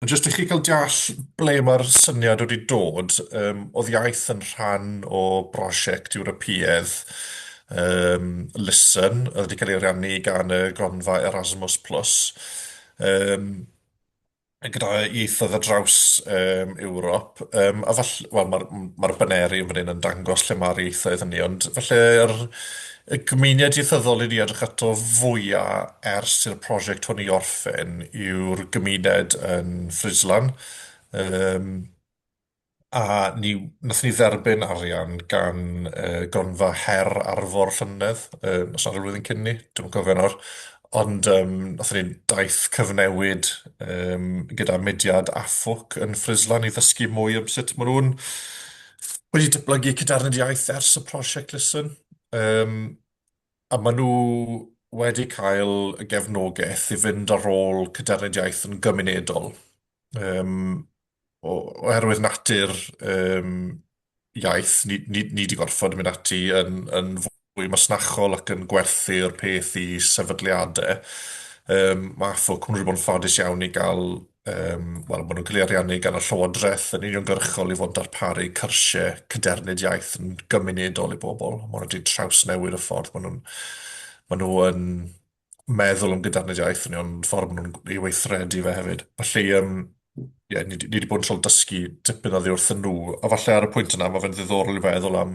Jyst i chi cael deall ble mae'r syniad wedi dod, um, oedd iaith yn rhan o brosiect Ewropeaidd um, Listen, oedd wedi cael ei ariannu gan y gronfa Erasmus+. Plus. Um, gyda ieithoedd ar draws um, Ewrop, um, a falle, wel, mae'r ma baneri yn fan hyn yn dangos lle mae'r ieithoedd hynny, ond falle yr, y gymuned ieithyddol i ni edrych ato fwyaf ers i'r prosiect hwn i orffen yw'r gymuned yn Frislan. Um, A ni, nath ni dderbyn arian gan uh, gronfa her arfor llynedd, uh, os nad rhywun yn cyn ni, dwi'n cofio nawr. Ond um, nath ni daith cyfnewid um, gyda mudiad AFWC yn Frislan i ddysgu mwy am sut maen nhw'n wedi dyblygu cydarnod iaith ers y prosiect Listen. Um, a maen nhw wedi cael y gefnogaeth i fynd ar ôl cydarnod iaith yn gymunedol. Um, oherwydd natur um, iaith, ni, ni, ni di gorfod mynd ati yn, yn fwy masnachol ac yn gwerthu'r peth i sefydliadau. Um, mae AFO Cymru wedi bod yn ffodus iawn i gael, um, wel, maen nhw'n cael ei ariannu gan y Llywodraeth yn uniongyrchol i fod yn darparu cyrsiau cydernid iaith yn gymunedol i bobl. Maen nhw wedi trawsnewid y ffordd maen nhw'n maen nhw yn meddwl am gyda'r iaith ni, ond ffordd maen nhw'n ei weithredu fe hefyd. Felly, yym, ie, ni, di- ni wedi bod yn tryl dysgu tipyn oddi wrth nhw, a falle ar y pwynt yna, mae fe'n ddiddorol i feddwl am,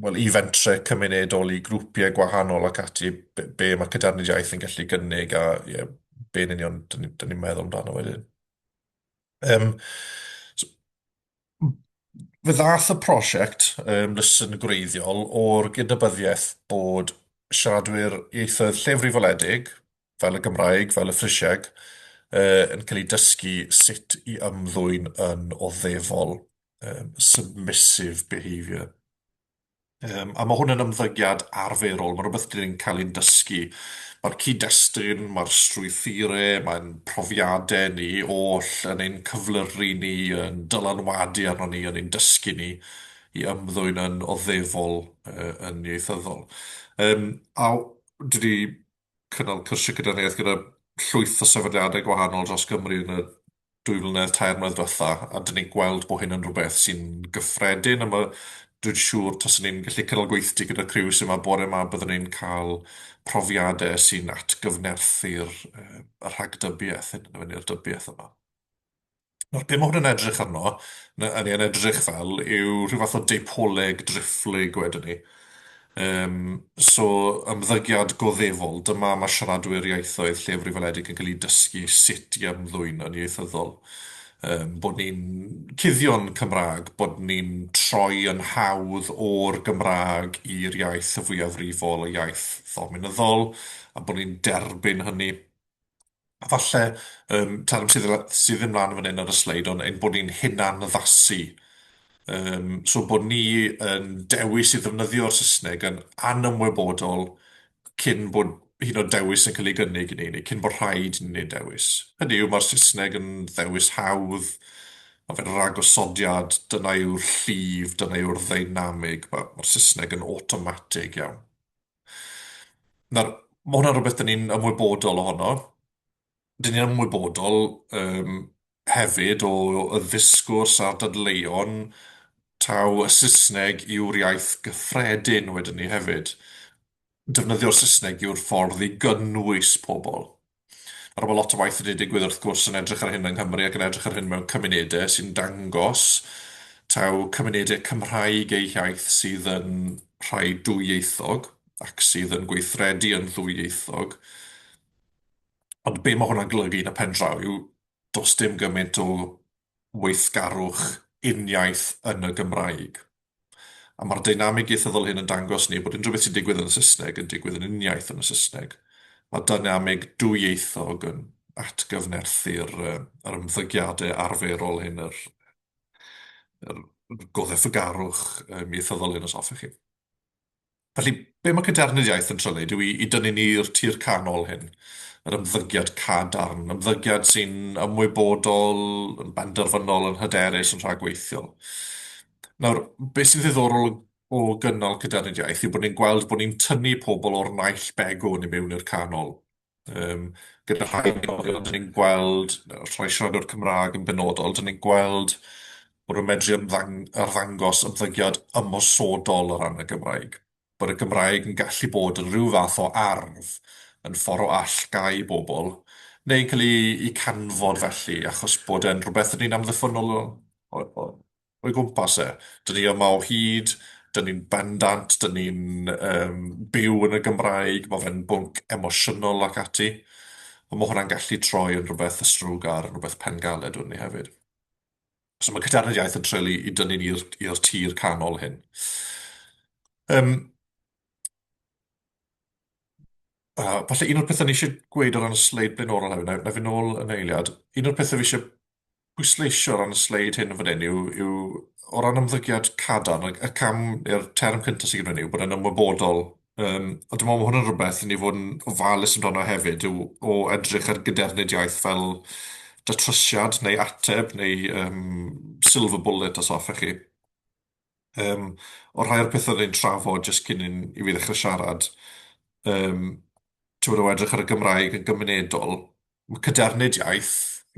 wel, i fentre cymunedol, i grwpiau gwahanol ac ati, be, be mae cyda'r iaith yn gallu gynnig, a ie, be'n union, dyn ni- dyn ni'n meddwl amdano wedyn. Um, Fe ddaeth y prosiect um, lysyn gwreiddiol o'r gydnabyddiaeth bod siaradwyr ieithoedd llefrifoledig, fel y Gymraeg, fel y Ffrisieg, uh, yn cael eu dysgu sut i ymddwyn yn oddefol, um, submissive behaviour. Yym, a ma' hwn yn ymddygiad arferol, ma' rwbeth dyn ni'n cael ein dysgu. Mae'r cyd-destun, mae'r strwythure, mae'n profiadau ni oll yn ein cyflyru ni, yn dylanwadu arno ni, yn ein dysgu ni i ymddwyn yn oddefol, yy, yn ieithyddol. Yym, a w- dwi 'di cynnal cyrsiau cydnabyddiaeth gyda llwyth o sefydliadau gwahanol dros Gymru yn y dwy flynedd, tair mlynedd diwetha, a dyn ni'n gweld bod hyn yn rhywbeth sy'n gyffredin, a mae dwi'n siŵr taswn ni'n gallu cynnal gweithdy gyda'r criw sy'n yma bore yma, byddwn ni'n cael profiadau sy'n atgyfnerthu'r y rhagdybiaeth hyn, ni'r dybiaeth yma. Nawr, be mae hwn yn edrych arno, na- hynny yn edrych fel, yw rhyw fath o deipoleg driphlyg wedyn ni. Um, so, ymddygiad goddefol, dyma mae siaradwyr ieithoedd llefrif weledig yn cael eu dysgu sut i ymddwyn yn ieithyddol. Um, bod ni'n cuddio'n Cymraeg, bod ni'n troi yn hawdd o'r Gymraeg i'r iaith y fwyafrifol, y iaith ddominyddol, a bod ni'n derbyn hynny. A falle, yym, term sydd la- sydd ddim lan fan hyn ar y sleid, ond ein bod ni'n hunanaddasu. Yym, so bod ni yn dewis i ddefnyddio'r Saesneg yn anymwybodol cyn bod hyd yn oed dewis yn cael ei gynnig i ni, neu cyn bod rhaid i ni wneud dewis. Hynny yw, mae'r Saesneg yn ddewis hawdd, mae fe'n ragosodiad, dyna yw'r llif, dyna yw'r ddeinamig, mae- mae'r Saesneg yn awtomatig iawn. Nawr, ma' hwnna'n rhywbeth 'dan ni'n ymwybodol ohono, 'dan ni'n ymwybodol yym hefyd o y ddisgwrs a'r dadleuon taw y Saesneg yw'r iaith gyffredin wedyn 'ny hefyd, defnyddio'r Saesneg yw'r ffordd i gynnwys pobol. Nawr, mae lot o waith wedi digwydd wrth gwrs yn edrych ar hyn yng Nghymru ac yn edrych ar hyn mewn cymunedau sy'n dangos taw cymunedau Cymraeg eu hiaith sydd yn rhai dwyieithog ac sydd yn gweithredu yn ddwyieithog. Ond be mae hwnna'n golygu yn y pen draw yw does dim gymaint o weithgarwch uniaith yn y Gymraeg. A mae'r deinamig ieithyddol hyn yn dangos ni bod unrhyw beth sy'n digwydd yn y Saesneg yn digwydd yn uniaith yn y Saesneg. Mae deinamig dwyieithog yn atgyfnerthu'r yr ymddygiadau arferol hyn, yr, yr, yr goddefgarwch ieithyddol hyn, os hoffech chi. Felly, be mae Cadernid Iaith yn trio wneud yw i dynnu ni i'r tir canol hyn, yr ymddygiad cadarn, ymddygiad sy'n ymwybodol, yn benderfynol, yn hyderus, yn rhagweithiol. Nawr, beth sy'n ddiddorol o gynnal Cadernid Iaith yw bod ni'n gweld bod ni'n tynnu pobl o'r naill begwn i mewn i'r canol. Yym, gyda rhai unigolion, 'dan ni'n gweld rhai siaradwyr Cymraeg yn benodol, 'dan ni'n gweld bod yn medru ymddang- arddangos ymddygiad ymosodol o ran y Gymraeg, bod y Gymraeg yn gallu bod yn rhyw fath o arf yn ffordd o allgáu bobl, neu'n cael ei canfod felly, achos bod e'n rhywbeth rydyn ni'n amddiffynnol o- o- o'i gwmpas e. Dyn ni yma o hyd, dyn ni'n bendant, dyn ni'n um, byw yn y Gymraeg, mae fe'n bwnc emosiynol ac ati. Ond mae hwnna'n gallu troi yn rhywbeth ysrwg ar rhywbeth pengaled wedyn ni hefyd. So mae Cydarnod Iaith yn trelu i dynnu ni i'r tir canol hyn. Um, uh, falle un o'r pethau ni eisiau gweud o ran y sleid blaenorol hefyd, na, na fi'n ôl yn eiliad, un o'r pethau fi eisiau pwysleisio o ran y sleid hyn fan hyn yw, yw o ran ymddygiad cadarn, y, y cam neu'r term cyntaf sydd gyda ni yw bod yn ymwybodol. Um, a dwi'n meddwl bod hwn yn rhywbeth i ni fod yn ofalus amdano hefyd, yw o edrych ar gydernediaeth fel datrysiad neu ateb neu um, silver bullet os hoffech chi. Yym, o rhai o'r petha ni'n trafod jyst cyn i ni ddechre siarad, yym, ti'n gwbod o edrych ar y Gymraeg yn gymunedol, ma' cadernid iaith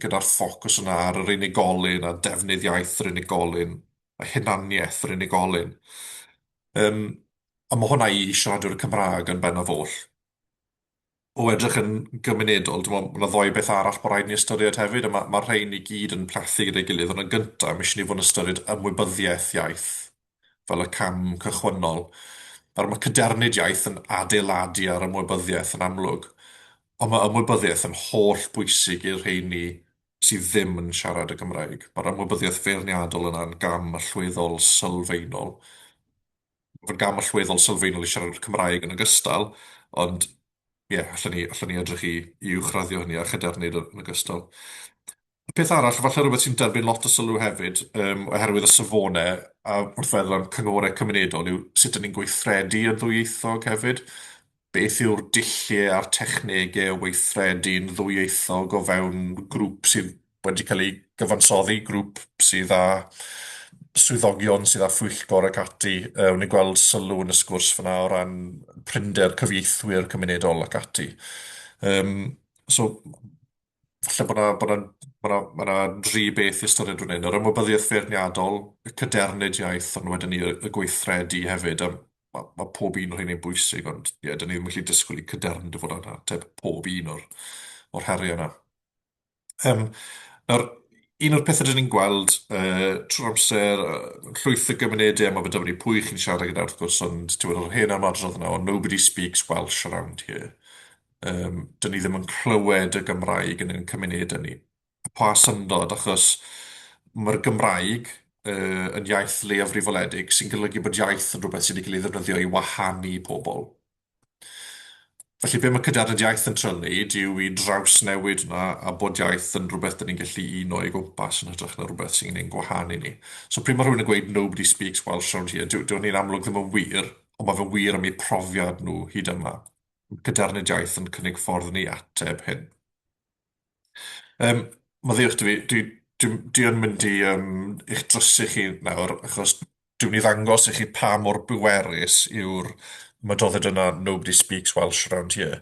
gyda'r ffocws yna ar yr unigolyn a defnydd iaith yr unigolyn a hunaniaeth yr unigolyn. Yym, a ma' hwnna i siaradwyr y Cymraeg yn benaf oll. o edrych yn gymunedol, dwi'n meddwl, mae yna ddoi beth arall bod rhaid ni ystyried hefyd, a mae'r ma rhain i gyd yn plethu gyda'i gilydd, ond yn gyntaf, mae eisiau ni fod yn ystyried ymwybyddiaeth iaith fel y cam cychwynnol. Nawr, mae cadernid iaith yn adeiladu ar ymwybyddiaeth yn amlwg, ond mae ymwybyddiaeth yn holl bwysig i'r rheini sydd ddim yn siarad y Gymraeg. Mae'r ymwybyddiaeth feirniadol yna'n gam allweddol sylfaenol. fy ngam allweddol sylfaenol i siarad Cymraeg yn ogystal, ond ie, allwn ni, allwn ni edrych i, i uwchraddio hynny a chydernid yn ogystal. Y peth arall, falle rhywbeth sy'n derbyn lot o sylw hefyd, um, oherwydd y safonau a wrth feddwl am cynghorau cymunedol, yw sut ydyn ni'n gweithredu yn ddwyieithog hefyd. Beth yw'r dulliau a'r technegau o weithredu'n ddwyieithog o fewn grŵp sydd wedi cael ei gyfansoddi, grŵp sydd â swyddogion sydd â phwyllgor ac ati. Yy, wn i gweld sylw yn y sgwrs fyna o ran prinder cyfieithwyr cymunedol ac ati. Um, so, falle bod yna bod yna bod yna bod yna dri beth i ystyried fan hyn, yr ymwybyddiaeth feirniadol, y cadernid iaith, ond wedyn ni y y gweithredu hefyd. Um, ma', ma' pob un o rheini'n bwysig, ond ie, da ni ddim yn gallu disgwyl i Cadern dy fod yn ateb pob un o'r, o'r heriau yna. Um, nawr, un o'r pethau dyn ni'n gweld uh, trwy'r amser, uh, llwyth o gymunedau, mae fe dyfod pwy chi'n siarad gyda wrth gwrs, ond ti'n meddwl, hen am adrodd yna, ond nobody speaks Welsh around here. Um, dyn ni ddim yn clywed y Gymraeg yn ein cymunedau ni. pa syndod, achos mae'r Gymraeg yy yn iaith leiafrifoledig sy'n golygu bod iaith yn rhywbeth sydd wedi cael ei ddefnyddio i wahanu pobl. Felly be mae cydiadnod iaith yn trio wneud yw i drawsnewid hwnna a bod iaith yn rhywbeth dyn ni'n gallu uno o'i gwmpas yn hytrach na rhywbeth sy'n ein gwahanu ni. So pryd mae rhywun yn gweud 'nobody speaks Welsh round here' dyw dyw hynny'n amlwg ddim yn wir, ond mae fe'n wir am eu profiad nhw hyd yma. Mae cydiadnod iaith yn cynnig ffordd i ni ateb hyn. Yym, maddeuwch 'da fi, dwi dwi dwi yn mynd i yym i'ch drysu chi nawr, achos dwi'n mynd i ddangos i chi pa mor bwerus yw'r mydodded yna 'nobody speaks Welsh around here'.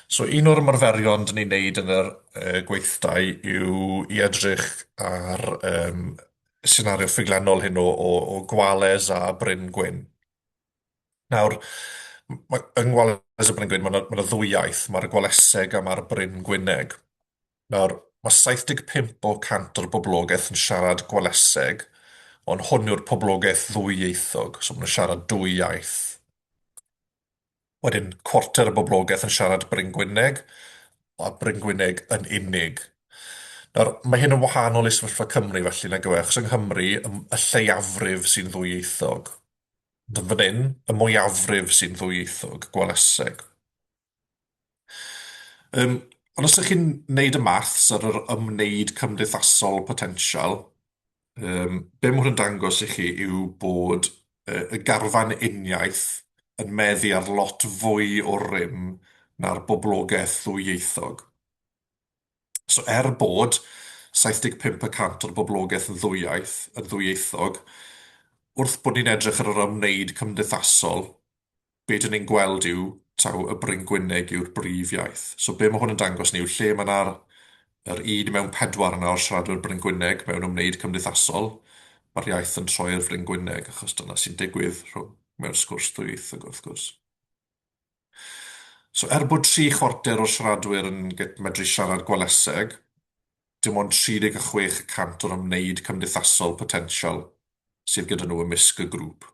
So un o'r ymarferion 'dan ni'n neud yn yr yy gweithdai yw i edrych ar yym senario ffuglenol hyn o o o Gwales a Bryn Gwyn. Nawr, mae yng Ngwales y Bryn Gwyn, mae yna ma ddwy iaith, mae'r Gwaleseg a mae'r Bryn Gwyneg. Nawr, mae 75 o cant o'r boblogaeth yn siarad Gwaleseg, ond hwn yw'r poblogaeth ddwyieithog, so maen nhw'n siarad dwy iaith. Wedyn, cwarter y boblogaeth yn siarad Bryn Gwyneg, a Bryn Gwyneg yn unig. Nawr, mae hyn yn wahanol i sefyllfa Cymru felly, nag yw e? Achos yng Nghymru, y lleiafrif sy'n ddwyieithog. Fan hyn, y mwyafrif sy'n ddwyieithog, gweleseg. Um, ond os ydych chi'n neud y maths ar yr ymwneud cymdeithasol potensial, um, be mae hwn dangos i chi yw bod uh, y garfan uniaith yn meddu ar lot fwy o rym na'r boblogaeth ddwyieithog. So er bod 75 y cant o'r boblogaeth yn ddwyieith, yn ddwyieithog, wrth bod ni'n edrych ar yr ymwneud cymdeithasol, be dyn ni'n gweld yw taw y Bryngwyneg yw'r brif iaith. So be mae hwn yn dangos ni yw lle mae yna'r yr un mewn pedwar yna o'r siaradwyr Bryngwyneg mewn ymwneud cymdeithasol, mae'r iaith yn troi i'r Fryngwyneg, achos dyna sy'n digwydd rhwng mewn sgwrs ddwyieithog wrth gwrs. So er bod tri chwarter o'r siaradwyr yn medru siarad Gwaleseg, dim ond 36 y cant o'r ymwneud cymdeithasol potensial sydd gyda nhw ymysg y grŵp.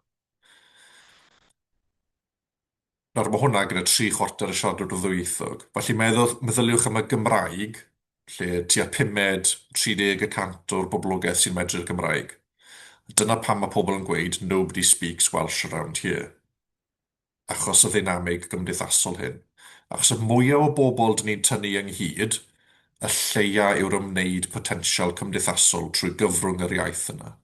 Nawr, mae hwnna gyda tri chwarter y siaradwyr ddwyieithog. Felly meddwl, meddyliwch am y Gymraeg, lle tua pumed, 30 y cant o'r boblogaeth sy'n medru'r Gymraeg. Dyna pam mae pobl yn gweud nobody speaks Welsh around here. achos y ddeinamig gymdeithasol hyn, achos y mwya o bobl dyn ni'n tynnu ynghyd, y lleia yw'r ymwneud potensial cymdeithasol trwy gyfrwng yr iaith yna.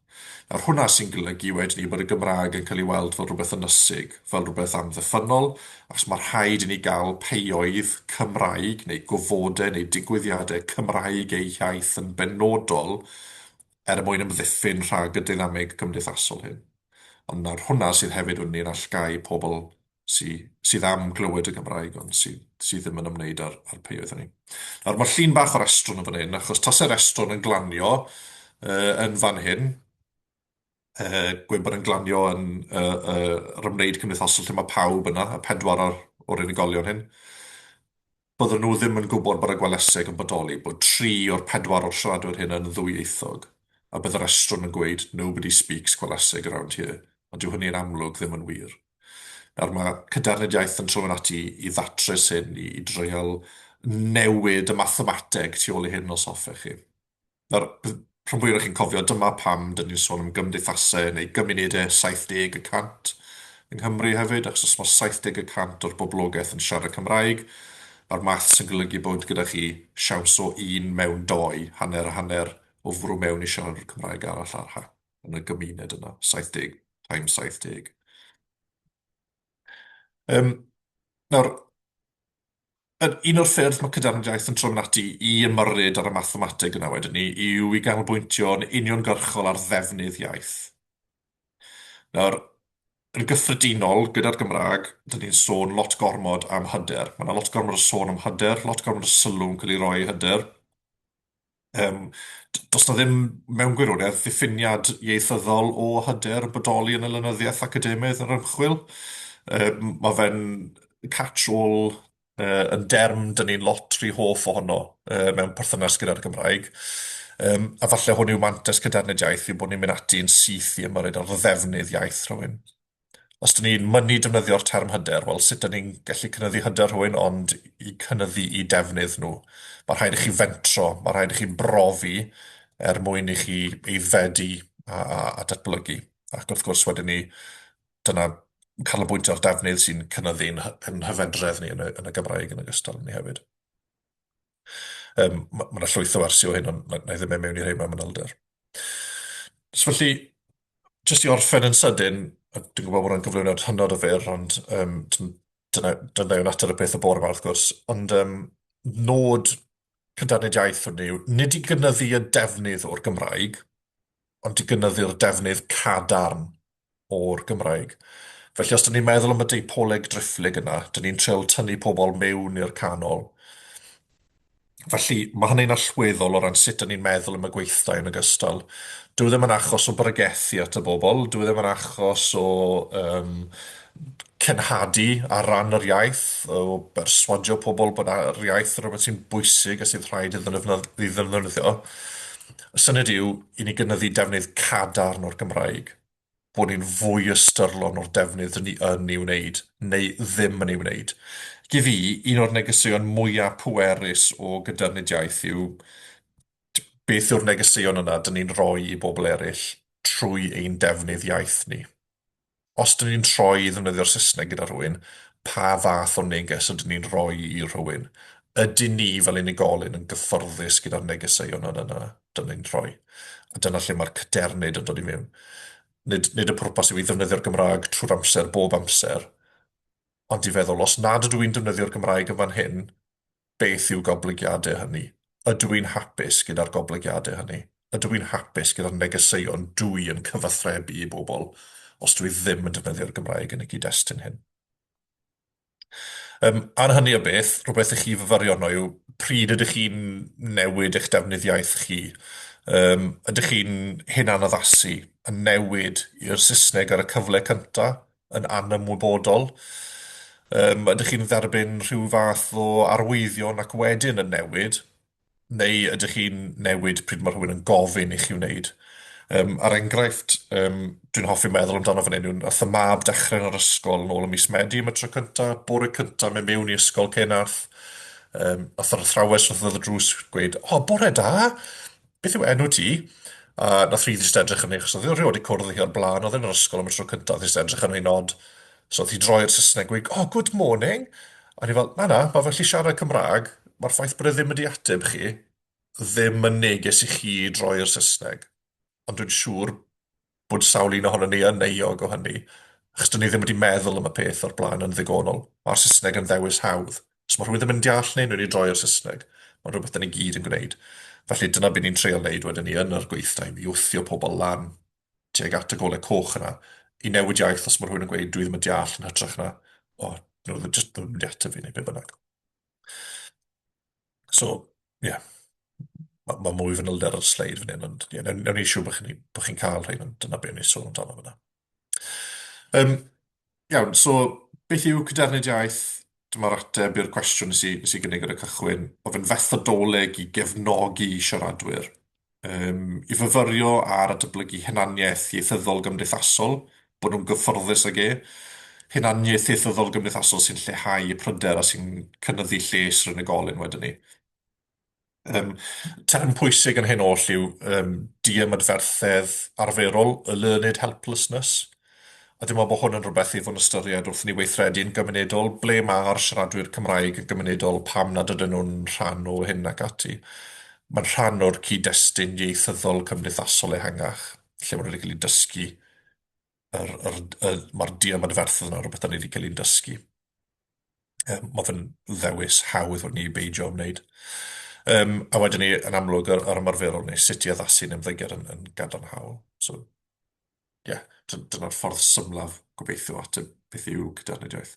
Nawr, hwnna sy'n golygu wedyn ni bod y Gymraeg yn cael ei weld fel rhywbeth ynysig, fel rhywbeth amddiffynnol, achos mae rhaid i ni gael peioedd Cymraeg neu gofodau neu digwyddiadau Cymraeg eu hiaith yn benodol er mwyn ymddiffyn rhag y deinamig gymdeithasol hyn. ond nawr hwnna sydd hefyd wedyn ni'n allgáu pobl sy sydd am glywed y Gymraeg ond sy sy ddim yn ymwneud â'r â'r pei oedden ni. Nawr ma llun bach o'r estron yn fan hyn achos tase'r estron yn glanio yy yn fan hyn yy gwe bod e'n glanio yn yy yy yr ymwneud cymdeithasol lle ma pawb yna y pedwar o'r o'r unigolion hyn. Byddwn nhw ddim yn gwybod bod y gweleseg yn bodoli, bod tri o'r pedwar o'r siaradwyr hyn yn ddwyieithog, a bydd yr estron yn gweud 'nobody speaks gweleseg around here', ond dyw hynny yn amlwg ddim yn wir. Nawr, mae Cadernid Iaith yn trwyn ati i ddatrys hyn, i dreial newid y mathemateg tu ôl i hyn os hoffech chi. Nawr, bydd rhan fwyaf o chi'n cofio, dyma pam dyn ni'n sôn am gymdeithasau neu gymunedau 70 y cant yng Nghymru hefyd, achos os mae 70 y cant o'r boblogaeth yn siarad Cymraeg, mae'r maths yn golygu bod gyda chi siawns o un mewn dou, hanner a hanner, o fwrw mewn i siaradwr Cymraeg arall ar ha, yn y gymuned yna, 70 times 70. Um, nawr, Yr un o'r ffyrdd mae Cadernid Iaith yn trwm ati i ymyrryd ar y mathemateg yna wedyn ni yw i ganolbwyntio'n uniongyrchol ar ddefnydd iaith. Nawr, yn gyffredinol, gyda'r Gymraeg, dyn ni'n sôn lot gormod am hyder. Mae yna lot gormod o sôn am hyder, lot gormod o sylw'n cael ei roi i hyder. Yym, d- does 'na ddim, mewn gwirionedd, ddiffiniad ieithyddol o hyder bodoli yn y lenyddiaeth academaidd a'r ymchwil. Yym, ma' fe'n catch-all yy yn derm 'dan ni'n lot rhy hoff ohono yy mewn perthynas gyda'r Gymraeg, yym, a falle hwn yw mantes cadarned iaith yw bod ni'n mynd ati yn syth i ymyrryd ar ddefnydd iaith rhywun. os 'dyn ni'n mynnu defnyddio'r term hyder, wel, sut 'dyn ni'n gallu cynyddu hyder rhywun, ond i cynyddu i defnydd nhw. Mae rhaid i chi fentro, mae rhaid i chi brofi er mwyn i chi aeddfedu a, a, a datblygu. Ac wrth gwrs, wedyn ni, dyna canolbwyntio ar defnydd sy'n cynyddu'n yn hyfedredd ni yn y, yn y Gymraeg yn ogystal ni hefyd. Yym, ma' ma' 'na llwyth o wersi o hyn, ond na- na'i ddim myn' mewn i rheina manylder. So felly, jyst i orffen yn sydyn, a dwi'n gwbod bod o'n gyflwyniad hynod o fyr, ond yym t- dyna dyna yw natur y peth y bore 'ma wrth gwrs, ond yym nod cyndadledd iaith hwn yw nid i gynyddu y defnydd o'r Gymraeg, ond i gynyddu'r defnydd cadarn o'r Gymraeg. Felly os 'dyn ni'n meddwl am y deipoleg driphlyg yna, 'dyn ni'n trial tynnu pobl mewn i'r canol. Felly mae hynny'n allweddol o ran sut 'dyn ni'n meddwl am y gweithdai yn ogystal. Dyw e ddim yn achos o bregethu at y bobl, dyw e ddim yn achos o um, cenhadu ar ran yr iaith, o berswadio pobl bod yr iaith yn rhywbeth sy'n bwysig a sydd rhaid iddyn nhw ddefnyddio. Y syniad yw i ni gynyddu defnydd cadarn o'r Gymraeg, bod ni'n fwy ystyrlon o'r defnydd rydyn ni yn ei wneud, neu ddim yn ei wneud. Ac i fi, un o'r negeseuon mwyaf pwerus o gydarnediaeth yw beth yw'r negeseuon yna dyn ni'n rhoi i bobl eraill trwy ein defnydd iaith ni. os dyn ni'n troi i ddefnyddio'r Saesneg gyda rhywun, pa fath o neges ydyn ni'n rhoi i rhywun? Ydyn ni fel unigolyn yn gyfforddus gyda'r negeseuon yna na dyn ni'n rhoi? A dyna lle mae'r cadernid yn dod i mewn. Nid, nid y pwrpas yw i ddefnyddio'r Gymraeg trwy'r amser, bob amser, ond i feddwl, os nad ydw i'n defnyddio'r Gymraeg yn fan hyn, Beth yw goblygiadau hynny? Ydw i'n hapus gyda'r goblygiadau hynny? Ydw i'n hapus gyda'r negeseuon dw i yn cyfathrebu i bobl os dw i ddim yn defnyddio'r Gymraeg yn y gyd-destun hyn? Yym, ar hynny o beth, rhywbeth i chi fyfyrio arno yw pryd ydych chi'n newid eich defnydd iaith chi? Yym, ydych chi'n hunanaddasu, yn newid i'r Saesneg ar y cyfle cynta', yn anymwybodol. Yym, ydych chi'n dderbyn rhyw fath o arwyddion ac wedyn yn newid, neu ydych chi'n newid pryd mae rhywun yn gofyn i chi wneud? Um, ar enghraifft, um, dwi'n hoffi meddwl amdano fan hyn, yw'n ath y mab dechrau yn yr ysgol yn ôl y mis Medi am y tro cynta, bore cynta mewn mewn i ysgol cyn ath, um, ath yr athrawes wrth y drws gweud, o, bore da, Beth yw enw ti? A nath Rhys jyst edrych arni, achos o'dd e rioed 'di cwrdd â hi o'r bla'n, o'dd e yn yr ysgol am y tro cynta, o'dd jyst edrych arni'n od. So o'th hi'n droi i'r Sysneg, gweud, oh, good morning! A o'n i fel, na, na, ma' fe allu siarad Cymrag, ma'r ffaith bod e ddim wedi ateb chi, ddim yn neges i chi droi i'r Sysneg. Ond dwi'n siŵr bod sawl un ohonon ni yn euog o hynny, achos dyn ni ddim wedi meddwl am y peth o'r blaen yn ddigonol. Mae'r Saesneg yn ddewis hawdd. Os mae rhywun ddim yn deall ni, nhw'n i droi i'r Saesneg. Mae'n rhywbeth dyn ni gyd yn gwneud. Felly dyna beth ni'n treol wneud wedyn ni yn yr gweithdai, i wthio pobl lan tuag at y golau coch yna, i newid iaith os mae rhywun yn gweud dwi ddim yn deall yn hytrach na, o, nhw ddim yn deall tyfu neu beth bynnag. So, ie. Yeah. Mae ma mwy fanylion ar y sleid fan hyn, ond ie, yeah, newn ni siw bod chi'n chi, chi cael rhain, ond dyna beth ni'n sôn amdano fyna. Um, iawn, so beth yw cydernid iaith? Dyma'r ateb i'r cwestiwn nes i, nes i gynnig ar y cychwyn, o fe'n fethodoleg i gefnogi siaradwyr um, i fyfyrio ar dyblygu hunaniaeth ieithyddol gymdeithasol, bod nhw'n gyfforddus ag e, hunaniaeth ieithyddol gymdeithasol sy'n lleihau y pryder a sy'n cynyddu lles yr unigolyn wedyn ni. Um, term pwysig yn hyn oll yw um, diamadferthedd arferol, y learned helplessness, A dwi'n meddwl bod hwn yn rhywbeth i fod yn ystyried wrth i ni weithredu yn gymunedol, ble mae'r siaradwyr Cymraeg yn gymunedol, pam nad ydyn nhw'n rhan o hyn ac ati. Mae'n rhan o'r cyd-destun ieithyddol cymdeithasol ehangach, lle maen nhw wedi cael eu dysgu, yr, yr, y, mae'r di ymadferthedd yna, rhywbeth da ni wedi cael ein dysgu. Um, mae fe'n ddewis hawdd o'n ni beidio ymwneud. Um, a wedyn ni, yn amlwg, yr, yr ymarferol neu sut i addasu yn ymddygiad yn, yn gadarnhaol. So, ie, dyna'r ffordd symlaf, gobeithio, o ateb beth yw Cydernid Iaith.